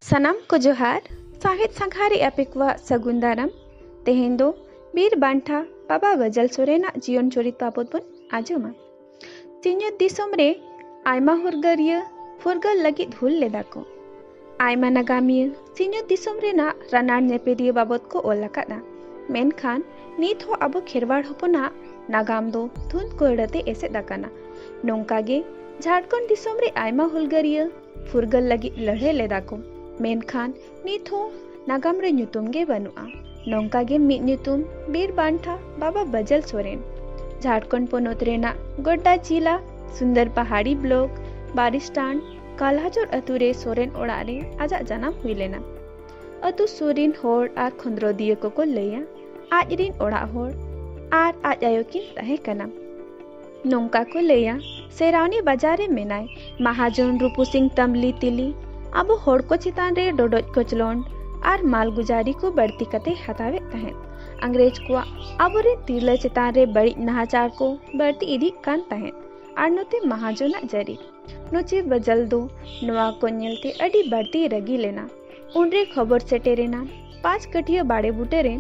ᱥᱟᱱᱟᱢ ᱠᱚ ᱡᱚᱦᱟᱨ ᱥᱟᱶᱦᱮᱫ ᱥᱟᱸᱜᱷᱟ ᱨᱮ ᱟᱯᱮ ᱠᱚᱣᱟᱜ ᱥᱟᱹᱜᱩᱱ ᱫᱟᱨᱟᱢ ᱛᱮᱦᱮᱧ ᱫᱚ ᱵᱤᱨ ᱵᱟᱱᱴᱷᱟ ᱵᱟᱵᱟ ᱜᱟᱡᱟᱞ ᱥᱚᱨᱮᱱᱟᱜ ᱡᱤᱭᱚᱱ ᱪᱚᱨᱤᱛ ᱵᱟᱵᱚᱫ ᱵᱚᱱ ᱟᱸᱡᱚᱢᱟ ᱥᱤᱧᱚᱛ ᱫᱤᱥᱚᱢ ᱨᱮ ᱟᱭᱢᱟ ᱦᱩᱨᱜᱟᱹᱨᱤᱭᱟᱹ ᱯᱷᱩᱨᱜᱟᱹᱞ ᱞᱟᱹᱜᱤᱫ ᱦᱩᱞ ᱞᱮᱫᱟ ᱠᱚ ᱟᱭᱢᱟ ᱱᱟᱜᱟᱢᱤᱭᱟᱹ ᱥᱤᱧᱚᱛ ᱫᱤᱥᱚᱢ ᱨᱮᱱᱟᱜ ᱨᱟᱱᱟᱲ ᱧᱮᱯᱮᱫᱤᱭᱟᱹ ᱵᱟᱵᱚᱛ ᱠᱚ ᱚᱞ ᱟᱠᱟᱫᱼᱟ᱾ ᱢᱮᱱᱠᱷᱟᱱ ᱱᱤᱛ ᱦᱚᱸ ᱟᱵᱚ ᱠᱷᱮᱨᱣᱟᱲ ᱦᱚᱯᱚᱱᱟᱜ ᱱᱟᱜᱟᱢ ᱫᱚ ᱫᱷᱩᱸᱫᱽ ᱠᱚᱭᱲᱟ ᱛᱮ ᱮᱥᱮᱫ ᱟᱠᱟᱱᱟ᱾ ᱱᱚᱝᱠᱟ ᱜᱮ ᱡᱷᱟᱨᱠᱷᱚᱸᱰ ᱫᱤᱥᱚᱢ ᱨᱮ ᱟᱭᱢᱟ ᱦᱩᱞᱜᱟᱹᱨᱤᱭᱟᱹ ᱯᱷᱩᱨᱜᱟᱹᱞ ᱞᱟᱹᱜᱤᱫ ᱞᱟᱹᱲᱦᱟᱹᱭ ᱞᱮᱫᱟ ᱠᱚ᱾ ᱢᱮᱱᱠᱷᱟᱱ ᱱᱤᱛ ᱦᱚᱸ ᱱᱟᱜᱟᱢ ᱨᱮ ᱧᱩᱛᱩᱢ ᱜᱮ ᱵᱟᱹᱱᱩᱜᱼᱟ᱾ ᱱᱚᱝᱠᱟ ᱜᱮ ᱢᱤᱫ ᱧᱩᱛᱩᱢ ᱵᱤᱨ ᱵᱟᱱᱴᱷᱟ ᱵᱟᱵᱟ ᱵᱟᱹᱡᱟᱹᱞ ᱥᱚᱨᱮᱱ ᱡᱷᱟᱨᱠᱷᱚᱸᱰ ᱯᱚᱱᱚᱛ ᱨᱮᱱᱟᱜ ᱜᱳᱰᱰᱟ ᱡᱤᱞᱟ ᱥᱩᱱᱫᱚᱨ ᱯᱟᱦᱟᱲᱤ ᱵᱞᱚᱠ ᱵᱟᱨᱤᱥᱴᱟᱱ ᱠᱟᱞᱦᱟᱡᱚᱨ ᱟᱹᱛᱩ ᱨᱮ ᱥᱚᱨᱮᱱ ᱚᱲᱟᱜ ᱨᱮ ᱟᱡᱟᱜ ᱡᱟᱱᱟᱢ ᱦᱩᱭ ᱞᱮᱱᱟ ᱟᱹᱛᱩ ᱥᱩᱨ ᱨᱤᱱ ᱦᱚᱲ ᱟᱨ ᱠᱷᱚᱸᱫᱽᱨᱚᱫᱤᱭᱟᱹ ᱠᱚᱠᱚ ᱞᱟᱹᱭᱟ ᱟᱡ ᱨᱤᱱ ᱚᱲᱟᱜ ᱦᱚᱲ ᱟᱨ ᱟᱡ ᱟᱭᱳ ᱠᱤᱱ ᱛᱟᱦᱮᱸ ᱠᱟᱱᱟ ᱱᱚᱝᱠᱟ ᱠᱚ ᱞᱟᱹᱭᱟ ᱥᱮᱨᱟᱣᱱᱤ ᱵᱟᱡᱟᱨ ᱨᱮ ᱢᱮᱱᱟᱭ ᱢᱟᱦᱟᱡᱚᱱ ᱨᱩᱯᱩ ᱥᱤᱝ ᱛᱟᱢᱵᱽᱞᱤ ᱛᱤᱞᱤ ᱟᱵᱚ ᱦᱚᱲ ᱠᱚ ᱪᱮᱛᱟᱱ ᱨᱮ ᱰᱚᱰᱚᱡ ᱠᱚᱪᱞᱚᱱᱰ ᱟᱨ ᱢᱟᱞᱜᱩᱡᱟᱨᱤ ᱠᱚ ᱵᱟᱹᱲᱛᱤ ᱠᱟᱛᱮ ᱦᱟᱛᱟᱣᱮᱫ ᱛᱟᱦᱮᱸᱫ ᱟᱝᱜᱽᱨᱮᱡᱽ ᱠᱚᱣᱟᱜ ᱟᱵᱚᱨᱮᱱ ᱛᱤᱨᱞᱟᱹ ᱪᱮᱛᱟᱱ ᱨᱮ ᱵᱟᱹᱲᱤᱡ ᱱᱟᱦᱟᱪᱟᱨ ᱠᱚ ᱵᱟᱹᱲᱛᱤ ᱤᱫᱤᱜ ᱠᱟᱱ ᱛᱟᱦᱮᱸᱫ ᱟᱨ ᱱᱚᱛᱮ ᱢᱟᱦᱟᱡᱚᱱᱟᱜ ᱡᱟᱹᱨᱤ ᱱᱚᱪᱮ ᱵᱟᱡᱟᱞ ᱫᱚ ᱱᱚᱣᱟ ᱠᱚ ᱧᱮᱞᱛᱮ ᱟᱹᱰᱤ ᱵᱟᱹᱲᱛᱤ ᱨᱟᱹᱜᱤ ᱞᱮᱱᱟ᱾ ᱩᱱᱨᱮ ᱠᱷᱚᱵᱚᱨ ᱥᱮᱴᱮᱨᱮᱱᱟ ᱯᱟᱸᱪ ᱠᱟᱹᱴᱷᱤᱭᱟᱹ ᱵᱟᱲᱮ ᱵᱩᱴᱟᱹ ᱨᱮ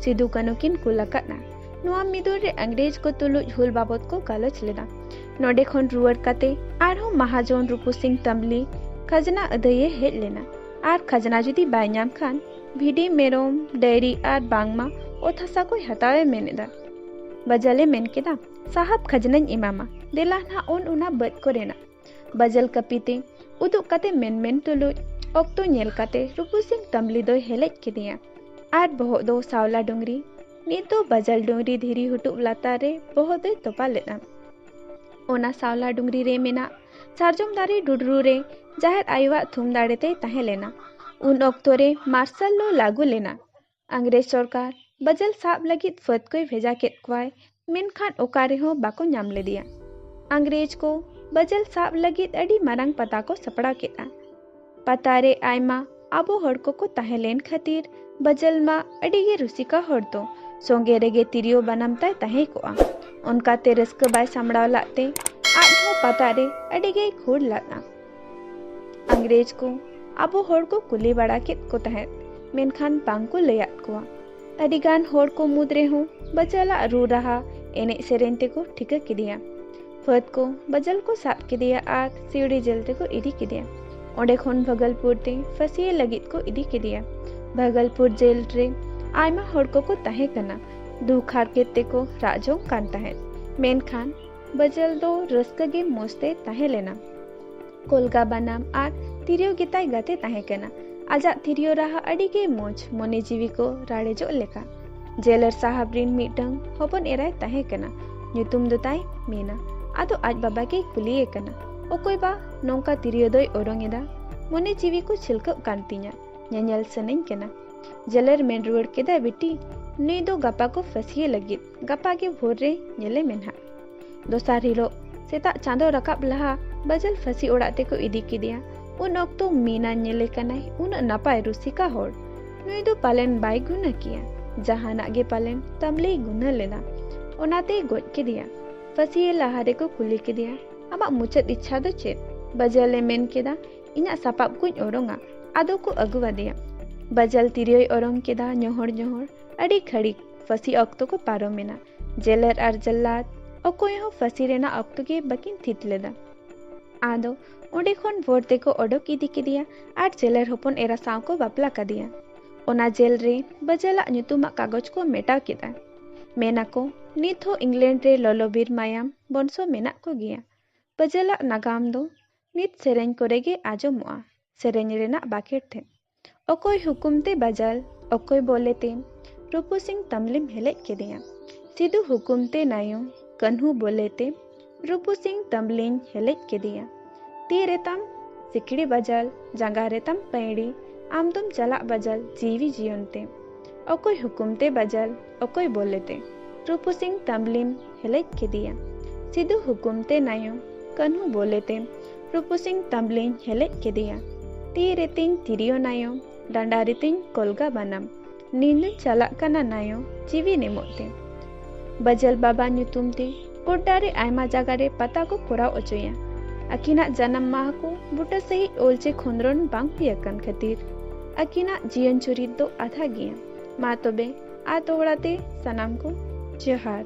ᱥᱤᱫᱩ ᱠᱟᱹᱱᱩ ᱠᱤᱱ ᱠᱩᱞ ᱟᱠᱟᱫᱼᱟ᱾ ᱱᱚᱣᱟ ᱢᱤᱫᱩᱱ ᱨᱮ ᱤᱝᱨᱮᱡᱽ ᱠᱚ ᱛᱩᱞᱩᱡ ᱦᱩᱞ ᱵᱟᱵᱚᱛ ᱠᱚ ᱜᱟᱞᱚᱪ ᱞᱮᱫᱟ᱾ ᱱᱚᱸᱰᱮ ᱠᱷᱚᱱ ᱨᱩᱣᱟᱹᱲ ᱠᱟᱛᱮ ᱟᱨᱦᱚᱸ ᱢᱟᱦᱟᱡᱚᱱ ᱨᱩᱯᱩ ᱥᱤᱝ ᱛᱟᱢᱵᱽᱞᱤ ᱠᱷᱟᱡᱽᱱᱟ ᱟᱹᱫᱟᱹᱭ ᱮ ᱦᱮᱡ ᱞᱮᱱᱟ ᱟᱨ ᱠᱷᱟᱡᱽᱱᱟ ᱡᱩᱫᱤ ᱵᱟᱭ ᱧᱟᱢ ᱠᱷᱟᱱ ᱵᱷᱤᱰᱤ, ᱢᱮᱨᱚᱢ, ᱰᱟᱹᱭᱨᱤ ᱟᱨ ᱵᱟᱝᱢᱟ ᱚᱛ ᱦᱟᱥᱟ ᱠᱚᱭ ᱦᱟᱛᱟᱣ ᱮ ᱢᱮᱱ ᱮᱫᱟ᱾ ᱵᱟᱡᱟᱞ ᱮ ᱢᱮᱱ ᱠᱮᱫᱟ᱾ ᱥᱟᱦᱟᱵ ᱠᱷᱟᱡᱽᱱᱟᱧ ᱮᱢᱟᱢᱟ ᱫᱮᱞᱟ ᱱᱟᱜ ᱩᱱ ᱚᱱᱟ ᱵᱟᱹᱫᱽ ᱠᱚᱨᱮᱱᱟᱜ ᱵᱟᱡᱟᱞ ᱠᱟᱹᱯᱤᱛᱮ ᱩᱫᱩᱜ ᱠᱟᱛᱮ ᱢᱮᱱ ᱢᱮᱱ ᱛᱩᱞᱩᱡ ᱚᱠᱛᱚ ᱧᱮᱞ ᱠᱟᱛᱮ ᱨᱩᱯᱩ ᱥᱤᱝ ᱛᱟᱢᱵᱽᱞᱤ ᱫᱚᱭ ᱦᱮᱞᱮᱡ ᱠᱮᱫᱮᱭᱟ ᱟᱨ ᱵᱚᱦᱚᱜ ᱫᱚ ᱥᱟᱣᱞᱟ ᱰᱩᱝᱨᱤ ᱱᱤᱛ ᱫᱚ ᱵᱟᱡᱟᱞ ᱰᱩᱝᱨᱤ ᱫᱷᱤᱨᱤ ᱦᱩᱴᱩᱵ ᱞᱟᱛᱟᱨ ᱨᱮ ᱵᱚᱦᱚᱜ ᱫᱚᱭ ᱛᱚᱯᱟ ᱞᱮᱫᱼᱟ ᱚᱱᱟ ᱥᱟᱣᱞᱟ ᱰᱩᱝᱨᱤ ᱨᱮ ᱢᱮᱱᱟᱜ ᱥᱟᱨᱡᱚᱢ ᱫᱟᱨᱮ ᱰᱩᱰᱨᱩ ᱨᱮ ᱡᱟᱦᱮᱨ ᱟᱭᱳᱣᱟᱜ ᱛᱷᱩᱢ ᱫᱟᱲᱮ ᱛᱮᱭ ᱛᱟᱦᱮᱸ ᱞᱮᱱᱟ ᱩᱱ ᱚᱠᱛᱚ ᱨᱮ ᱢᱟᱨᱥᱟᱞ ᱞᱚ ᱞᱟᱹᱜᱩ ᱞᱮᱱᱟ ᱟᱝᱜᱽᱨᱮᱡᱽ ᱥᱚᱨᱠᱟᱨ ᱵᱟᱡᱮᱞ ᱥᱟᱵ ᱞᱟᱹᱜᱤᱫ ᱯᱷᱟᱹᱫᱽ ᱠᱚᱭ ᱵᱷᱮᱡᱟ ᱠᱮᱫ ᱠᱚᱣᱟᱭ ᱢᱮᱱᱠᱷᱟᱱ ᱚᱠᱟ ᱨᱮᱦᱚᱸ ᱵᱟᱠᱚ ᱧᱟᱢ ᱞᱮᱫᱮᱭᱟ᱾ ᱟᱝᱜᱽᱨᱮᱡᱽ ᱠᱚ ᱵᱟᱡᱮᱞ ᱥᱟᱵ ᱞᱟᱹᱜᱤᱫ ᱟᱹᱰᱤ ᱢᱟᱨᱟᱝ ᱯᱟᱛᱟ ᱠᱚ ᱥᱟᱯᱲᱟᱣ ᱠᱮᱫᱼᱟ᱾ ᱯᱟᱛᱟ ᱨᱮ ᱟᱭᱢᱟ ᱟᱵᱚ ᱦᱚᱲ ᱠᱚᱠᱚ ᱛᱟᱦᱮᱸ ᱞᱮᱱ ᱠᱷᱟᱹᱛᱤᱨ ᱵᱟᱡᱮᱞ ᱢᱟ ᱟᱹᱰᱤ ᱜᱮ ᱨᱩᱥᱤᱠᱟ ᱦᱚᱲ ᱫᱚ ᱥᱚᱸᱜᱮ ᱨᱮᱜᱮ ᱛᱤᱨᱭᱳ ᱵᱟᱱᱟᱢ ᱛᱟᱭ ᱛᱟᱦᱮᱸ ᱠᱚᱜᱼᱟ᱾ ᱚᱱᱠᱟ ᱛᱮ ᱨᱟᱹᱥᱠᱟᱹ ᱵᱟᱭ ᱥᱟᱢᱲᱟᱣ ᱞᱟᱫ ᱛᱮ ᱟᱡ ᱦᱚᱸ ᱯᱟᱛᱟ ᱨᱮ ᱟᱹᱰᱤ ᱜᱮᱭ ᱠᱷᱩᱲ ᱞᱟᱫᱼᱟ᱾ ᱤᱝᱨᱮᱡᱽ ᱠᱚ ᱟᱵᱚ ᱦᱚᱲ ᱠᱚ ᱠᱩᱞᱤ ᱵᱟᱲᱟ ᱠᱮᱫ ᱠᱚ ᱛᱟᱦᱮᱸᱫ ᱢᱮᱱᱠᱷᱟᱱ ᱵᱟᱝ ᱠᱚ ᱞᱟᱹᱭᱟᱫ ᱠᱚᱣᱟ ᱟᱹᱰᱤ ᱜᱟᱱ ᱦᱚᱲ ᱠᱚ ᱢᱩᱫᱽ ᱨᱮᱦᱚᱸ ᱵᱟᱡᱟᱞᱟᱜ ᱨᱩ ᱨᱟᱦᱟ ᱮᱱᱮᱡ ᱥᱮᱨᱮᱧ ᱛᱮᱠᱚ ᱴᱷᱤᱠᱟᱹ ᱠᱮᱫᱮᱭᱟ ᱯᱷᱟᱹᱫ ᱠᱚ ᱵᱟᱡᱟᱞ ᱠᱚ ᱥᱟᱵ ᱠᱮᱫᱮᱭᱟ ᱟᱨ ᱥᱤᱣᱲᱤ ᱡᱮᱞ ᱛᱮᱠᱚ ᱤᱫᱤ ᱠᱮᱫᱮᱭᱟ ᱚᱸᱰᱮ ᱠᱷᱚᱱ ᱵᱷᱟᱜᱚᱞᱯᱩᱨ ᱛᱮ ᱯᱷᱟᱹᱥᱤ ᱞᱟᱹᱜᱤᱫ ᱠᱚ ᱤᱫᱤ ᱠᱮᱫᱮᱭᱟ ᱵᱷᱟᱜᱚᱞᱯᱩᱨ ᱡᱮᱞ ᱨᱮ ᱟᱭᱢᱟ ᱦᱚᱲ ᱠᱚᱠᱚ ᱛᱟᱦᱮᱸ ᱠᱟᱱᱟ ᱫᱩᱠ ᱦᱟᱨᱠᱮᱛ ᱛᱮᱠᱚ ᱨᱟᱜ ᱡᱚᱝ ᱠᱟᱱ ᱛᱟᱦᱮᱸᱫ ᱢᱮᱱᱠᱷᱟᱱ ᱵᱟᱡᱟᱞ ᱫᱚ ᱨᱟᱹᱥᱠᱟᱹ ᱜᱮ ᱢᱚᱡᱽ ᱛᱮ ᱛᱟᱦᱮᱸ ᱞᱮᱱᱟ ᱠᱚᱞᱜᱟ ᱵᱟᱱᱟᱢ ᱟᱨ ᱛᱤᱨᱭᱳ ᱜᱮ ᱛᱟᱭ ᱜᱟᱛᱮ ᱛᱟᱦᱮᱸ ᱠᱟᱱᱟ ᱟᱡᱟᱜ ᱛᱤᱨᱭᱳ ᱨᱟᱦᱟ ᱟᱹᱰᱤ ᱜᱮ ᱢᱚᱡᱽ ᱢᱚᱱᱮ ᱡᱤᱣᱤ ᱠᱚ ᱨᱟᱲᱮᱡᱚᱜ ᱞᱮᱠᱟ ᱡᱮᱞᱟᱨ ᱥᱟᱦᱟᱵ ᱨᱤᱱ ᱢᱤᱫᱴᱟᱝ ᱦᱚᱯᱚᱱ ᱮᱨᱟᱭ ᱛᱟᱦᱮᱸ ᱠᱟᱱᱟ ᱧᱩᱛᱩᱢ ᱫᱚ ᱛᱟᱭ ᱢᱮᱱᱟ ᱟᱫᱚ ᱟᱡ ᱵᱟᱵᱟ ᱜᱮᱭ ᱠᱩᱞᱤᱭᱮ ᱠᱟᱱᱟ ᱚᱠᱚᱭ ᱵᱟ ᱱᱚᱝᱠᱟ ᱛᱤᱨᱭᱳ ᱫᱚᱭ ᱚᱨᱚᱝ ᱮᱫᱟ ᱢᱚᱱᱮ ᱡᱤᱣᱤ ᱠᱚ ᱪᱷᱤᱞᱠᱟᱹᱜ ᱠᱟᱱ ᱛᱤᱧᱟ ᱧᱮᱧᱮᱞ ᱥᱟᱱᱟᱧ ᱠᱟᱱᱟ ᱡᱮᱞᱟᱨ ᱢᱮᱱ ᱨᱩᱣᱟᱹᱲ ᱠᱮᱫᱟᱭ ᱵᱤᱴᱤ ᱱᱩᱭ ᱫᱚ ᱜᱟᱯᱟ ᱠᱚ ᱯᱷᱟᱹᱥᱤᱭᱮ ᱞᱟᱹᱜᱤᱫ ᱜᱟᱯᱟ ᱜᱮ ᱵᱷᱳᱨ ᱨᱮ ᱧᱮᱞᱮ ᱢᱮ ᱱᱟᱦᱟᱜ ᱫᱚᱥᱟᱨ ᱦᱤᱞᱳᱜ ᱥᱮᱛᱟᱜ ᱪᱟᱸᱫᱚ ᱨᱟᱠᱟᱵ ᱞᱟᱦᱟ ᱵᱟᱡᱟᱞ ᱯᱷᱟᱹᱥᱤ ᱚᱲᱟᱜ ᱛᱮᱠᱚ ᱤᱫᱤ ᱠᱮᱫᱮᱭᱟ ᱩᱱ ᱚᱠᱛᱚ ᱢᱤᱱᱟ ᱧᱮᱞᱮ ᱠᱟᱱᱟᱭ ᱩᱱᱟᱹᱜ ᱱᱟᱯᱟᱭ ᱨᱩᱥᱤᱠᱟ ᱦᱚᱲ ᱱᱩᱭ ᱫᱚ ᱯᱟᱞᱮᱱ ᱵᱟᱭ ᱜᱩᱱᱟᱹ ᱠᱮᱭᱟ ᱡᱟᱦᱟᱱᱟᱜ ᱜᱮ ᱯᱟᱞᱮᱱ ᱛᱟᱢᱞᱮᱭ ᱜᱩᱱᱟᱹ ᱞᱮᱱᱟ ᱚᱱᱟᱛᱮᱭ ᱜᱚᱡ ᱠᱮᱫᱮᱭᱟ ᱯᱷᱟᱹᱥᱤ ᱞᱟᱦᱟ ᱨᱮᱠᱚ ᱠᱩᱞᱤ ᱠᱮᱫᱮᱭᱟ ᱟᱢᱟᱜ ᱢᱩᱪᱟᱹᱫ ᱤᱪᱪᱷᱟ ᱫᱚ ᱪᱮᱫ ᱵᱟᱡᱟᱞᱮ ᱢᱮᱱ ᱠᱮᱫᱟ ᱤᱧᱟᱹᱜ ᱥᱟᱯᱟᱵ ᱠᱚᱧ ᱚᱨᱚᱝᱟ ᱟᱫᱚ ᱠᱚ ᱟᱹᱜᱩᱣᱟᱫᱮᱭᱟ ᱵᱟᱡᱟᱞ ᱛᱤᱨᱭᱳᱭ ᱚᱨᱚᱝ ᱠᱮᱫᱟ ᱧᱚᱦᱚᱲ ᱧᱚᱦᱚᱲ ᱟᱹᱰᱤ ᱜᱷᱟᱹᱲᱤᱠ ᱯᱷᱟᱹᱥᱤ ᱚᱠᱛᱚ ᱠᱚ ᱯᱟᱨᱚᱢ ᱮᱱᱟ ᱡᱮᱞᱮᱨ ᱟᱨ ᱡᱟᱞᱞᱟᱫ ᱚᱠᱚᱭ ᱦᱚᱸ ᱯᱷᱟᱹᱥᱤ ᱨᱮᱱᱟᱜ ᱚᱠᱛᱚ ᱜᱮ ᱵᱟᱹᱠᱤᱱ ᱛᱷᱤᱛ ᱞᱮᱫᱟ ᱟᱫᱚ ᱚᱸᱰᱮ ᱠᱷᱚᱱ ᱵᱷᱳᱨ ᱛᱮᱠᱚ ᱚᱰᱚᱠ ᱤᱫᱤ ᱠᱮᱫᱮᱭᱟ ᱟᱨ ᱡᱮᱞᱮᱨ ᱦᱚᱯᱚᱱ ᱮᱨᱟ ᱥᱟᱶ ᱠᱚ ᱵᱟᱯᱞᱟ ᱠᱟᱫᱮᱭᱟ ᱚᱱᱟ ᱡᱮᱞ ᱨᱮ ᱵᱟᱡᱟᱞᱟᱜ ᱧᱩᱛᱩᱢᱟᱜ ᱠᱟᱜᱚᱡᱽ ᱠᱚ ᱢᱮᱴᱟᱣ ᱠᱮᱫᱟ ᱢᱮᱱᱟᱠᱚ ᱱᱤᱛ ᱦᱚᱸ ᱤᱝᱞᱮᱱᱰ ᱨᱮ ᱞᱚᱞᱚᱵᱤᱨ ᱢᱟᱭᱟᱢ ᱵᱚᱱᱥᱚ ᱢᱮᱱᱟᱜ ᱠᱚ ᱜᱮᱭᱟ ᱵᱟᱡᱟᱞᱟᱜ ᱱᱟᱜᱟᱢ ᱫᱚ ᱱᱤᱛ ᱥᱮᱨᱮᱧ ᱠᱚᱨᱮ ᱜᱮ ᱟᱸᱡᱚᱢᱚᱜᱼᱟ ᱥᱮᱨᱮᱧ ᱨᱮᱱᱟᱜ ᱵᱟᱠᱷᱮᱲ ᱴᱷᱮᱱ ᱚᱠᱚᱭ ᱦᱩᱠᱩᱢ ᱛᱮ ᱵᱟᱡᱟᱞ ᱚᱠᱚᱭ ᱵᱚᱞᱮ ᱛᱮ ᱨᱩᱯᱩ ᱥᱤᱝ ᱛᱟᱢᱞᱤᱢ ᱦᱮᱞᱮᱡ ᱠᱮᱫᱮᱭᱟ ᱥᱤᱫᱩ ᱦᱩᱠᱩᱢ ᱛᱮ ᱱᱟᱭᱩ ᱠᱟᱹᱱᱦᱩ ᱵᱚᱞᱮ ᱛᱮ ᱨᱩᱯᱩ ᱥᱤᱝ ᱛᱟᱢᱞᱤᱧ ᱦᱮᱞᱮᱡ ᱠᱮᱫᱮᱭᱟ ᱛᱤ ᱨᱮ ᱛᱟᱢ ᱥᱤᱠᱲᱤ ᱵᱟᱡᱟᱞ ᱡᱟᱸᱜᱟ ᱨᱮ ᱛᱟᱢ ᱯᱟᱹᱭᱲᱤ ᱟᱢ ᱫᱚᱢ ᱪᱟᱞᱟᱜ ᱵᱟᱡᱟᱞ ᱡᱤᱣᱤ ᱡᱤᱭᱚᱱ ᱛᱮ ᱚᱠᱚᱭ ᱦᱩᱠᱩᱢ ᱛᱮ ᱵᱟᱡᱟᱞ ᱚᱠᱚᱭ ᱵᱚᱞ ᱞᱮᱛᱮ ᱨᱩᱯᱩ ᱥᱤᱝ ᱛᱟᱢᱵᱽᱞᱤᱢ ᱦᱮᱞᱮᱡ ᱠᱮᱫᱮᱭᱟ ᱥᱤᱫᱩ ᱦᱩᱠᱩᱢ ᱛᱮ ᱱᱟᱭᱚ ᱠᱟᱹᱱᱦᱩ ᱵᱚᱞ ᱞᱮᱛᱮ ᱨᱩᱯᱩ ᱥᱤᱝ ᱛᱟᱢᱵᱽᱞᱤᱧ ᱦᱮᱞᱮᱡ ᱠᱮᱫᱮᱭᱟ ᱛᱤ ᱨᱮᱛᱤᱧ ᱛᱤᱨᱭᱚ ᱱᱟᱭᱚ ᱰᱟᱸᱰᱟ ᱨᱮᱛᱤᱧ ᱠᱚᱞᱜᱟ ᱵᱟᱱᱟᱢ ᱱᱤᱱᱫᱩᱧ ᱪᱟᱞᱟᱜ ᱠᱟᱱᱟ ᱱᱟᱭᱚ ᱡᱤᱣᱤᱧ ᱮᱢᱚᱜ ᱛᱮ ᱵᱟᱡᱟᱞ ᱵᱟᱵᱟ ᱧᱩᱛᱩᱢ ᱛᱮ ᱜᱚᱰᱰᱟ ᱨᱮ ᱟᱭᱢᱟ ᱡᱟᱭᱜᱟ ᱨᱮ ᱯᱟᱛᱟ ᱠᱚ ᱠᱚᱨᱟᱣ ᱚᱪᱚᱭᱟ ᱟᱹᱠᱤᱱᱟᱜ ᱡᱟᱱᱟᱢ ᱢᱟᱦᱟ ᱠᱚ ᱵᱩᱴᱟᱹ ᱥᱟᱺᱦᱤᱡ ᱚᱞ ᱪᱮ ᱠᱷᱚᱸᱫᱽᱨᱚᱱ ᱵᱟᱝ ᱦᱩᱭ ᱟᱠᱟᱱ ᱠᱷᱟᱹᱛᱤᱨ ᱟᱹᱠᱤᱱᱟᱜ ᱡᱤᱭᱚᱱ ᱪᱩᱨᱤᱛ ᱫᱚ ᱟᱫᱷᱟ ᱜᱮᱭᱟ ᱢᱟ ᱛᱚᱵᱮ ᱟᱨ ᱫᱚᱦᱲᱟ ᱛᱮ ᱥᱟᱱᱟᱢ ᱠᱚ ᱡᱚᱦᱟᱨ